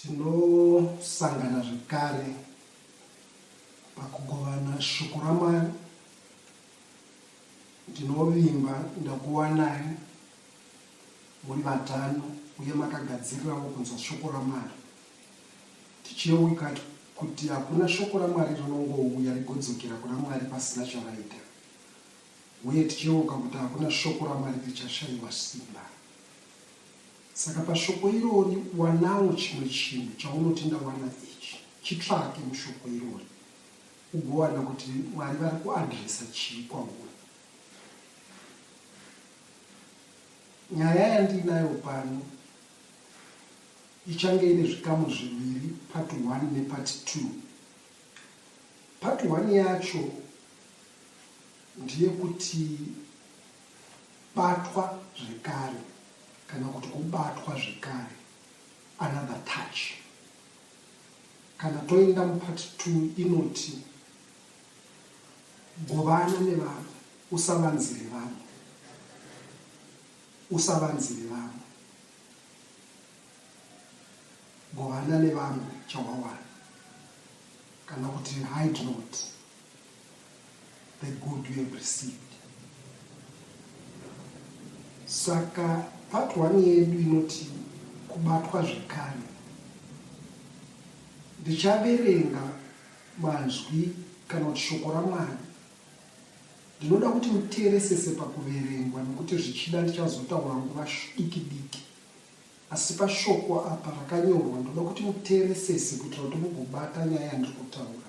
Tinosangana zvekare pakugovana shoko raMwari. Ndinovimba ndakuwanai muri vatano uye makagadzirirawo kunzwa shoko raMwari. Tichiyeuka kuti hakuna shoko raMwari rinongouya rigodzokera kuna Mwari pasina charaita uye tichiyeuka kuti hakuna shoko raMwari richashaiwa simba. Saka pashoko irori wanawo chimwe chinhu chaunoti ndawana ichi. Chitsvake mushoko irori ugowana kuti Mwari vari kuadresa chii kwauri. Nyaya yandiinayo pano ichange ine zvikamu zviviri, part 1 nepart 2. Part 1 yacho ndeyekuti Kubatwa zvekare kana kuti kubatwa zvekare, another touch. Kana toenda mupart two inoti govana nevamwe, usavanzire vamwe, usavanzire vamwe, govana nevamwe chawawana kana kuti hide not. the good you have received saka part one yedu inoti kubatwa zvekare ndichaverenga manzwi kana kuti shoko ramwari ndinoda kuti muteeresese pakuverengwa nekuti zvichida ndichazotaura nguva diki diki asi pashoko apa rakanyorwa ndoda kuti muteeresese kuitira kuti mugobata nyaya yandiri kutaura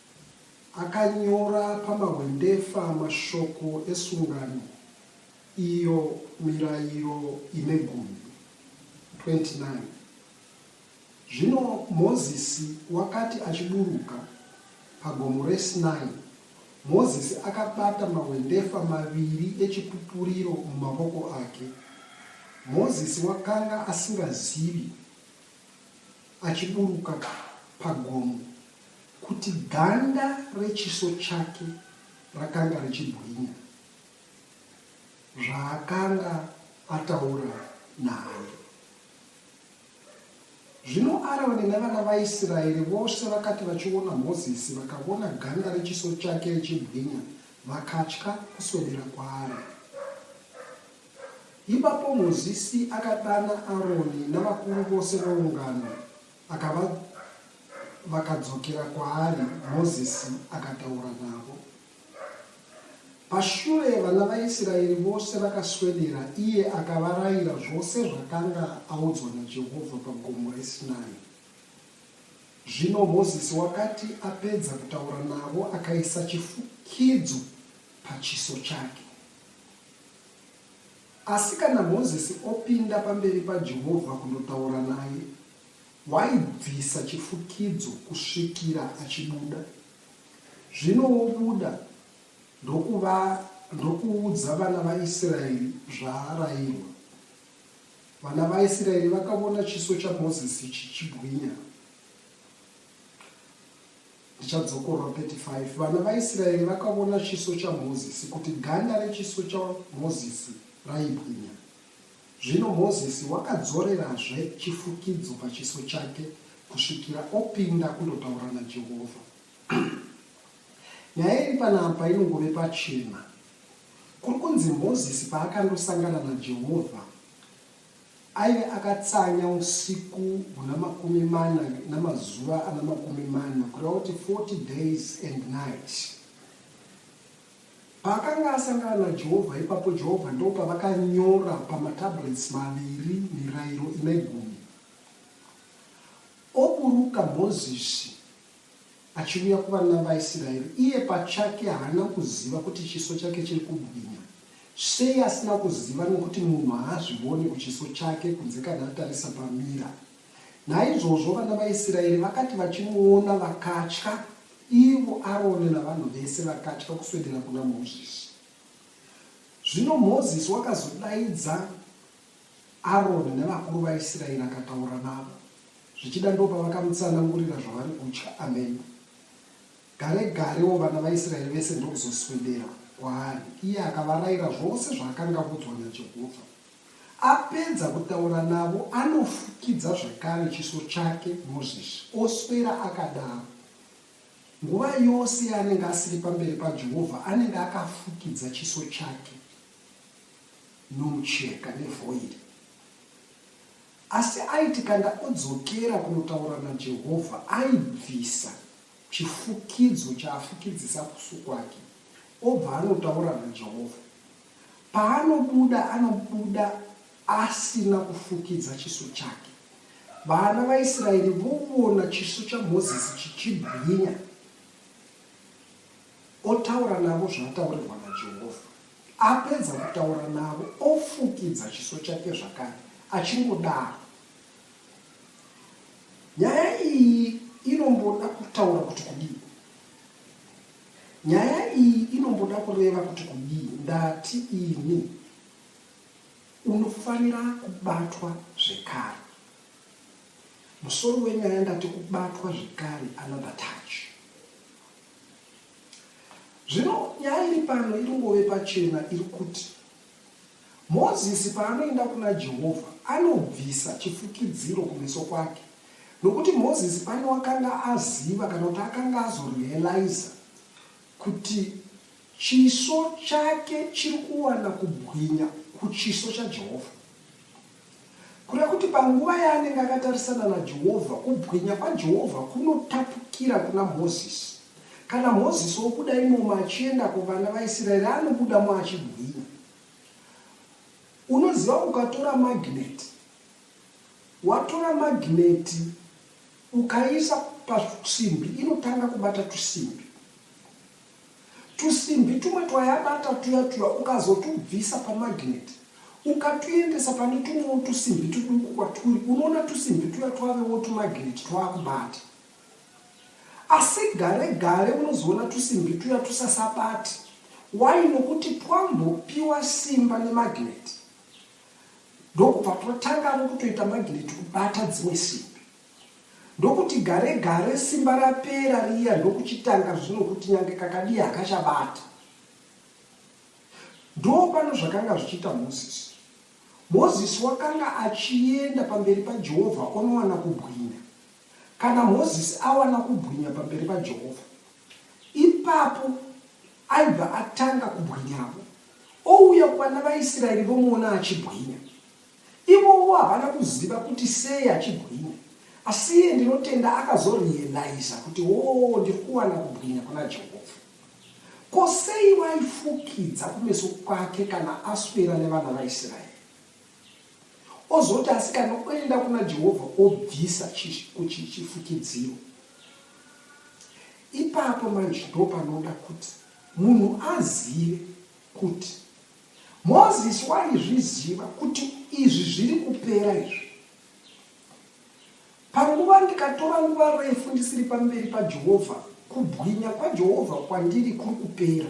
Akanyora pamahwendefa mashoko esungano, iyo Mirayiro ine Gumi. 29 Zvino Mozisi wakati achiburuka paGomo reSinai, Mozisi akabata mahwendefa maviri eChipupuriro mumavoko ake. Mozisi wakanga asingazivi achiburuka pagomo kuti ganda rechiso chake rakanga richibwinya zvaakanga ataura naye. Zvino Aroni nevana vaIsraeri vose vakati vachiona Mozisi vakavona ganda rechiso chake richibwinya, vakatya kuswedera kwaari. Ipapo Mozisi akadana Aroni navakuru vose veungano, akava, vakadzokera kwaari, Mozisi akataura navo. Pashure vana vaIsiraeri vose vakaswedera, iye akavarayira zvose zvakanga audzwa naJehovha pagomo reSinai. Zvino Mozisi wakati apedza kutaura navo, akaisa chifukidzo pachiso chake. Asi kana Mozisi opinda pamberi paJehovha kundotaura naye, waibvisa chifukidzo kusvikira achibuda. Zvino wobuda ndokuudza vana vaIsraeri zvaarairwa. Vana vaIsraeri vakavona chiso chaMozisi chichibwinya. Ndichadzokorwa 35 Vana vaIsraeri vakavona chiso chaMozisi, kuti ganda rechiso chaMozisi raibwinya. Zvino Mozisi wakadzorerazve chifukidzo pachiso chake kusvikira opinda kundotaura naJehovha. Nyaya iri panapa inongove pachena. Kuri kunzi Mozisi paakandosangana naJehovha, Aive akatsanya usiku huna makumi mana namazuva ana makumi mana, kureva kuti 40 days and night. Paakanga asangana naJehovha ipapo, Jehovha ndopavakanyora pamatablets maviri Mirayiro ine Gumi. Oburuka Mozisi. Achiuya kuvana vaIsiraeri, iye pachake haana kuziva kuti chiso chake chiri kubwinya. Sei asina kuziva? Nokuti munhu haazvivoni kuchiso chake kunze kana atarisa pamira. Naizvozvo vana vaIsiraeri vakati vachimuona vakatya, ivo Aroni navanhu vese vakatya kuswedera kuna Mozisi. Zvino Mozisi wakazodaidza. Aroni nevakuru vaIsiraeri akataura navo, zvichida ndopavakamutsanangurira zvavari kutya. Amen. Gare garewo vana vaIsiraeri vese ndokuzoswedera kwaari, iye akavarayira zvose zvaakanga avudzwa naJehovha. Apedza kutaura navo, anofukidza zvakare chiso chake Mozisi, oswera akadaro. Nguva yose yaanenge asiri pamberi paJehovha, anenge akafukidza chiso chake. nomucheka nevoid. Asi aiti kana odzokera kunotaura naJehovha, aibvisa chifukidzo chaafukidzisa kusu kwake obva anotaura naJehovha. Paanobuda, anobuda asina kufukidza chiso chake. Vana vaIsraeri vovona chiso chaMozisi chichibwinya. Otaura navo zvaataurirwa naJehovha. Apedza kutaura navo, ofukidza chiso chake zvakare, achingodaro. Nyaya iyi inomboda kutaura kuti kudii? Nyaya iyi inomboda kureva kuti kudii? Ndati ini, unofanira kubatwa zvekare. Musoro wenyaya ndati kubatwa zvekare, another touch. Zvino nyaya iri pano iri ngove pachena iri kuti Mozisi paanoenda kuna Jehovha anobvisa chifukidziro kumeso kwake, nokuti Mozisi pane wakanga aziva kana kuti akanga azorealiza kuti chiso chake chiri kuwana kubwinya kuchiso chaJehovha. Kureva kuti panguva yaanenge akatarisana naJehovha, kubwinya kwaJehovha kunotapukira kuna Mozisi. Kana Mozisi obuda imomo achienda kuvana vaIsraeri, anobudamo achibwinya. Unoziva, ukatora magineti, watora magineti ukaiisa pasimbi, inotanga kubata tusimbi. Tusimbi tumwe twayabata tuya tuya ukazotubvisa pamagineti ukatuendesa pane tumwewo tusimbi tuduku kwaturi unoona tusimbi tuya twavewo tumagineti twakubata. Asi gare gare unozoona tusimbi tuya tusasabati. Why? Nokuti twambopiwa simba nemagineti ndokubva twatangavo kutoita magineti kubata dzimwe simbi. Ndokuti gare gare simba rapera riya ndokuchitanga zvino kuti nyange kakadii hakachabata. Ndopano zvakanga zvichiita Moses. Moses wakanga achienda pamberi paJehovha onowana kubwinya. Kana Moses awana kubwinya pamberi paJehovha, ipapo aibva atanga kubwinyavo. Ouya kuvana vaIsraeri vomuona achibwinya. Ivovo havana kuziva kuti sei achibwinya asi iye ndinotenda akazorealiza kuti woo ndiri kuwana kubwinya kuna Jehovha. Ko sei waifukidza kumeso kwake kana aswera nevana vaIsraeri? Ozoti asikana oenda kuna Jehovha obvisa chifukidziro. Ipapo manje ndopanoda kuti munhu azive kuti Moses waizviziva kuti izvi zviri kupera izvi. Panguva ndikatora nguva refu ndisiri pamberi paJehovha, kubwinya kwaJehovha kwandiri kuri kupera.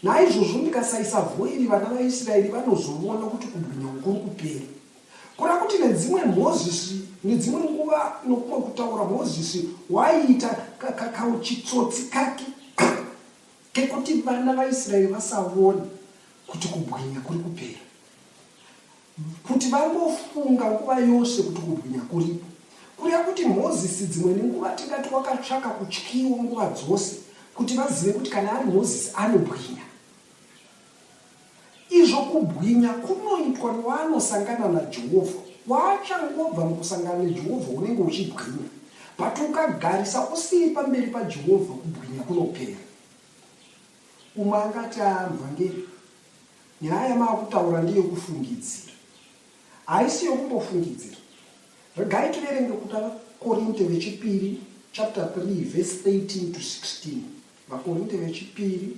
Naizvozvo ndikasaisa vhoiri vana vaIsraeri vanozovona kuti kubwinya uku kuri kupera. Kureva kuti nedzimwe Moses, nedzimwe nguva nokumwe kutaura Moses waiita ka, ka, kauchitsotsi kake Kekuti vana vaIsraeri vasaone kuti kubwinya kuri kupera, kuti vangofunga nguva yose kuti kubwinya kuripo. Kureva kuti Mozisi dzimwe nenguva tingati wakatsvaka kutyiwa nguva dzose kuti vazive kuti kana ari Mozisi anobwinya. Izvo kubwinya kunoitwa newanosangana naJehovha. Waachangobva mukusangana naJehovha unenge uchibwinya. But ukagarisa usiri pamberi paJehovha kubwinya kunopera. Umwe angati, ah mvhangeri, nyaya yamaakutaura ndeyekufungidzira. Haisi yokumbofungidzira. Regai tiverenge kuda Korinte vechipiri chapter 3 verse 13 to 16. VaKorinte vechipiri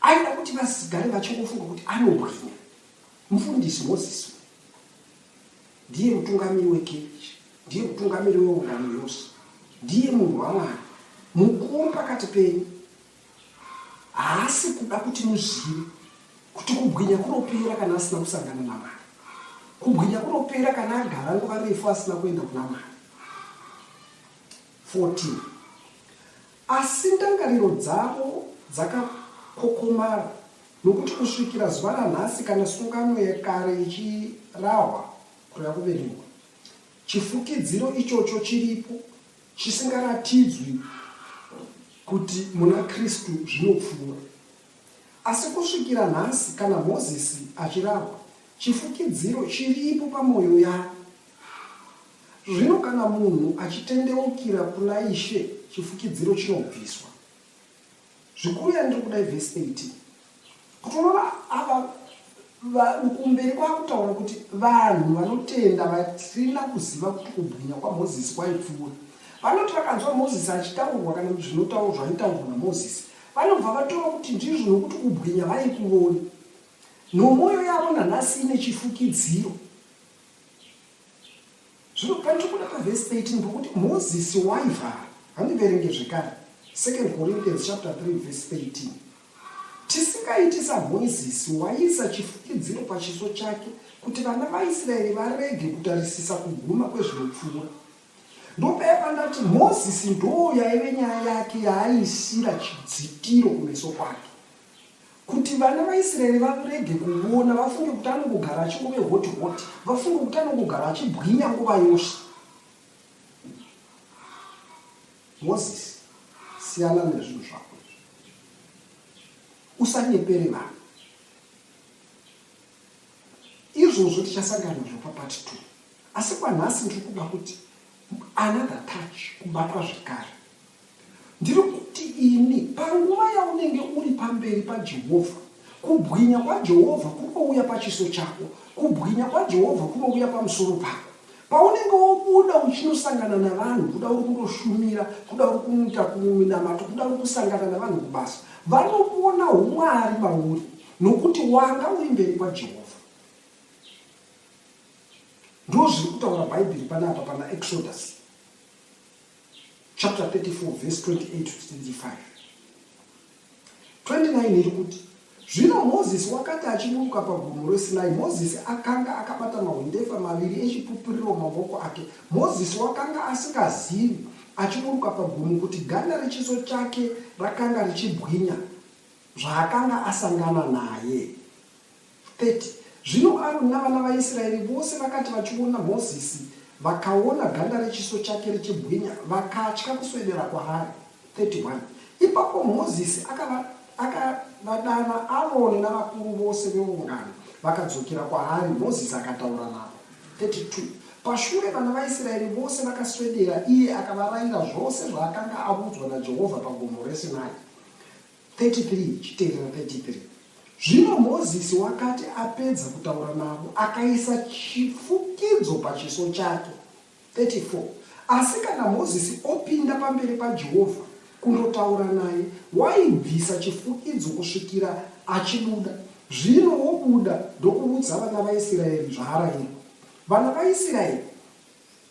aida kuti vasigare vachingofunga kuti anobwinya mufundisi moses ndiye mutungamiri wekerechi ndiye mutungamiri weungano yose ndiye munhu wamwari mukuru pakati penyu haasi kuda kuti muzive kuti kubwinya kunopera kana asina kusangana namwari kubwinya kunopera kana agara nguva refu asina kuenda kuna mwari 14 Asi ndangariro dzavo dzakakhokhomara, nokuti kusvikira zuva ranhasi, kana sungano yekare ichirahwa, kureva kuverengwa, chifukidziro ichocho chiripo, chisingaratidzwi kuti muna Kristu zvinopfuura. Asi kusvikira nhasi, kana Mozisi achirahwa, chifukidziro chiripo pamwoyo yavo. Zvino kana munhu achitendeukira kuna Ishe, chifukidziro chinobviswa. Zvikuru yandiri kuda ivhesi 18. Kuti unoona ava kumberi kwakutaura kuti vanhu vanotenda vasina kuziva kuti kubwinya kwamozisi kwaipfuura vanoti vakanzwa mozisi achitaurwa kana kuti zvinotaurwa zvaitaurwa namozisi vanobva vatora kuti ndizvo nokuti kubwinya vaikuvoni nomwoyo yavo nanhasi ine chifukidziro Zvino pandinobuda pavhesi 13 pokuti Mozisi waivhara, handiverenge zvekare 2 Corinthians chapter 3 verse 13. Tisingaiti saMozisi waiisa chifukidziro pachiso chake kuti vana vaIsraeri varege kutarisisa kuguma kwezvinopfuura. Ndopaya pandati Mozisi ndoo yaive nyaya yake yaaiisira chidzitiro kumeso kwake. Kuti vana vaIsraeri varege kuona, vafunge kuti anongogara achingove hoti hoti, vafunge kuti anongogara achibwinya nguva yose. Mozisi, siyana nezvinhu zvako usanyepere vanhu izvozvo tichasangana nazvo papati two asi kwanhasi ndiri kuda kuti another touch kubatwa zvekare Ndiri kuti ini, panguva yaunenge uri pamberi paJehovha, kubwinya kwaJehovha kunouya pachiso chako, kubwinya kwaJehovha kunouya pamusoro pako. Paunenge wobuda uchinosangana navanhu, kuda uri kundoshumira, kuda uri kuita kunamato, kuda uri kusangana navanhu kubasa, vanoona umwari mauri nokuti wanga uri mberi kwaJehovha. Ndozviri kutaura Bhaibheri panapa pana Exodus. chapter 34 verse 28 to 25 29 iri kuti zvino mozisi wakati achiburuka pagomo resinai mozisi akanga akabata mahwendefa maviri echipupuriro mumavoko ake mozisi wakanga asingazivi achiburuka pagomo kuti ganda rechiso chake rakanga richibwinya zvaakanga asangana naye 30 Zvino Aroni navana vaIsraeri vose vakati vachiona Mozisi, vakaona ganda rechiso chake richibwinya, vakatya kuswedera kwaari. 31 Ipapo Mozisi akava, akavadana Aroni navakuru vose veungano, vakadzokera kwaari, Mozisi akataura navo. 32 Pashure vana vaIsraeri vose vakaswedera, iye akavarayira zvose zvaakanga avudzwa naJehovha pagomo reSinai. 33 ichitevera 33 Zvino Mozisi wakati apedza kutaura navo, akaisa chifukidzo pachiso chake. 34 Asi kana Mozisi opinda pamberi paJehovha kundotaura naye, waibvisa chifukidzo kusvikira achibuda. Zvino wobuda ndokuudza vana vaIsiraeri zvaarayirwa. Vana vaIsiraeri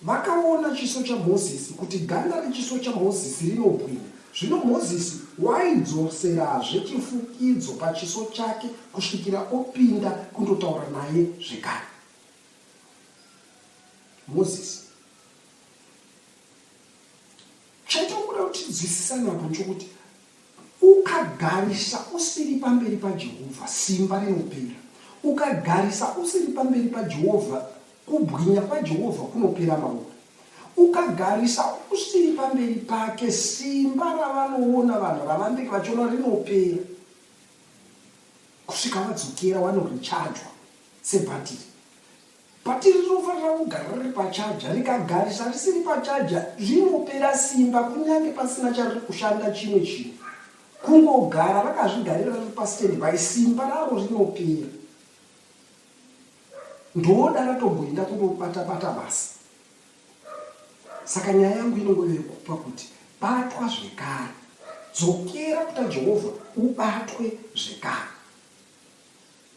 Vakaona chiso chaMozisi, kuti ganda rechiso chaMozisi rinobwinya. Zvino Mozisi waidzoserazve chifukidzo pachiso chake kusvikira opinda kundotaura naye zvekare. Mozisi. Chaitinokuda kuti tinzwisisane apo nchokuti Ukagarisa usiri pamberi paJehovha, simba rinopera. Ukagarisa usiri pamberi paJehovha, kubwinya kwaJehovha kunopera mauri. Ukagarisa usiri pamberi pake, simba ravanoona vanhu ravanenge vachiona rinopera kusvika vadzokera wanorichajwa sebhatiri. Bhatiri rinofanira kugara riri pachaja. Rikagarisa risiri pachaja, rinopera simba kunyange pasina chariri kushanda chimwe chinhu. Kungogara rakazvigarira riri pastandby, simba raro rinopera. Ndoda ratomboenda kundobata-bata basa. Saka nyaya yangu inongove yekupa kuti batwa zvekare. Dzokera kuta Jehovha ubatwe zvekare.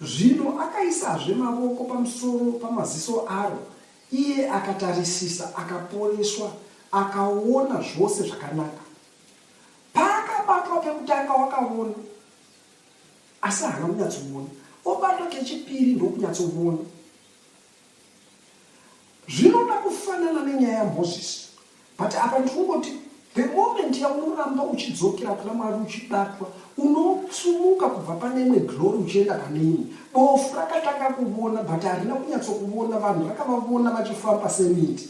Zvino akaisazve mavoko pamusoro pamaziso aro, iye akatarisisa, akaporeswa, akaona zvose zvakanaka. Paakabatwa kekutanga wakaona, asi haana kunyatsoona, obatwa kechipiri ndokunyatsoona. Zvinoda kufanana nenyaya yaMoses but apa ndikungoti the moment yaunoramba uchidzokera kuna Mwari uchibatwa unotsumuka kubva pane imwe glory uchienda pane imwe. Bofu rakatanga kuvona but harina kunyatsokuvona vanhu rakavavona vachifamba semiti.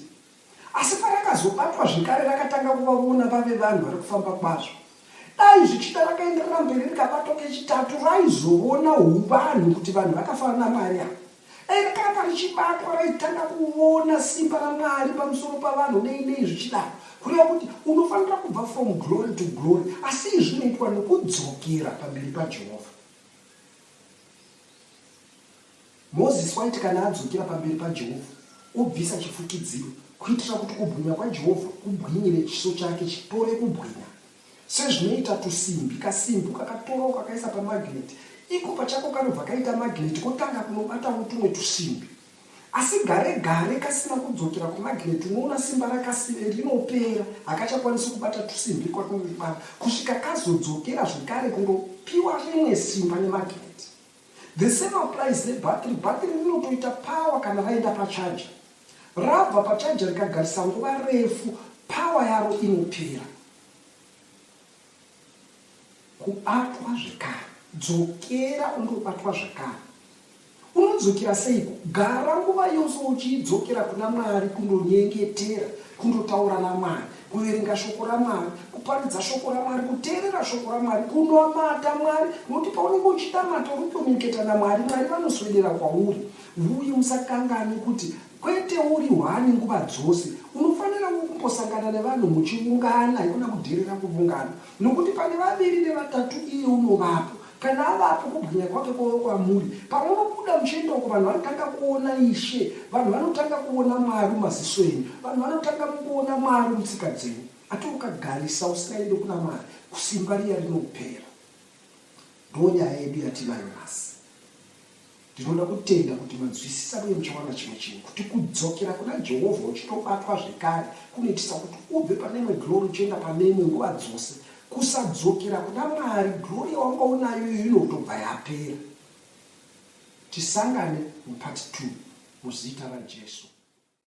Asi parakazobatwa zvekare rakatanga kuvavona vave vanhu vari kufamba kwazvo. Dai zvichida rakaenderera mberi rikabatwa kechitatu raizovona huvanhu kuti vanhu vakafana naMwari ava. Dai rakaramba richibatwa raitanga kuvona simba raMwari pamusoro pavanhu nei nei zvichidaro. Kureva kuti unofanira kubva from glory to glory asi izvi zvinoitwa nokudzokera pamberi paJehovha. Mozisi waiti kana adzokera pamberi paJehovha, obvisa chifukidziro kuitira kuti kubwinya kwaJehovha kubwinyire chiso chake chitore kubwinya. Sezvinoita tusimbi, kasimbi ukakatora ukakaisa pamagineti, iko pachako kanobva kaita magineti kotanga kunobatawo tumwe tusimbi. Asi gare gare kasina kudzokera kumagineti, unoona simba rakasire rinopera, hakachakwanisi kubata tusimbi kwakunobata kusvika kazodzokera zvekare kundopiwa rimwe simba nemagineti. The same applies nebhatiri. Bhatiri rinotoita power kana raenda pachaja. Rabva pachaja rikagarisa nguva refu, power yaro inopera. Kubatwa zvekare. Dzokera undobatwa zvekare. Unodzokera seiko? Gara nguva yose uchidzokera kuna Mwari kundonyengetera, kundotaura naMwari. kuverenga shoko ramwari kuparidza shoko ramwari kuteerera shoko ramwari kunamata mwari nokuti paunenge uchinamata uri kukomuniketa namwari mwari vanoswedera kwauri uye usakanganwe kuti kwete uri hwani nguva dzose unofanira kumbosangana nevanhu muchiungana ikona kudherera kuvungana Nokuti pane vaviri nevatatu iye unovapo, kana avapo kubwinya kwake kwava kwamuri. Pamunobuda muchienda uko, vanhu vanotanga kuona Ishe, vanhu vanotanga kuona Mwari mumaziso enyu, vanhu vanotanga kuona Mwari mutsika dzenyu. Ati ukagarisa usingaende kuna Mwari, kusimba riya rinopera. Ndonyaya yedu yatinayo nhasi. Ndinoda kutenda kuti manzwisisa uye muchawana chimwe chinhu, kuti kudzokera kuna Jehovha uchitobatwa zvekare kunoitisa kuti ubve pane imwe glory uchienda pane imwe nguva dzose. Kusadzokera kuna Mwari, glory yawanga unayo iyoyo inotobva yapera. Tisangane muPart 2 muzita raJesu.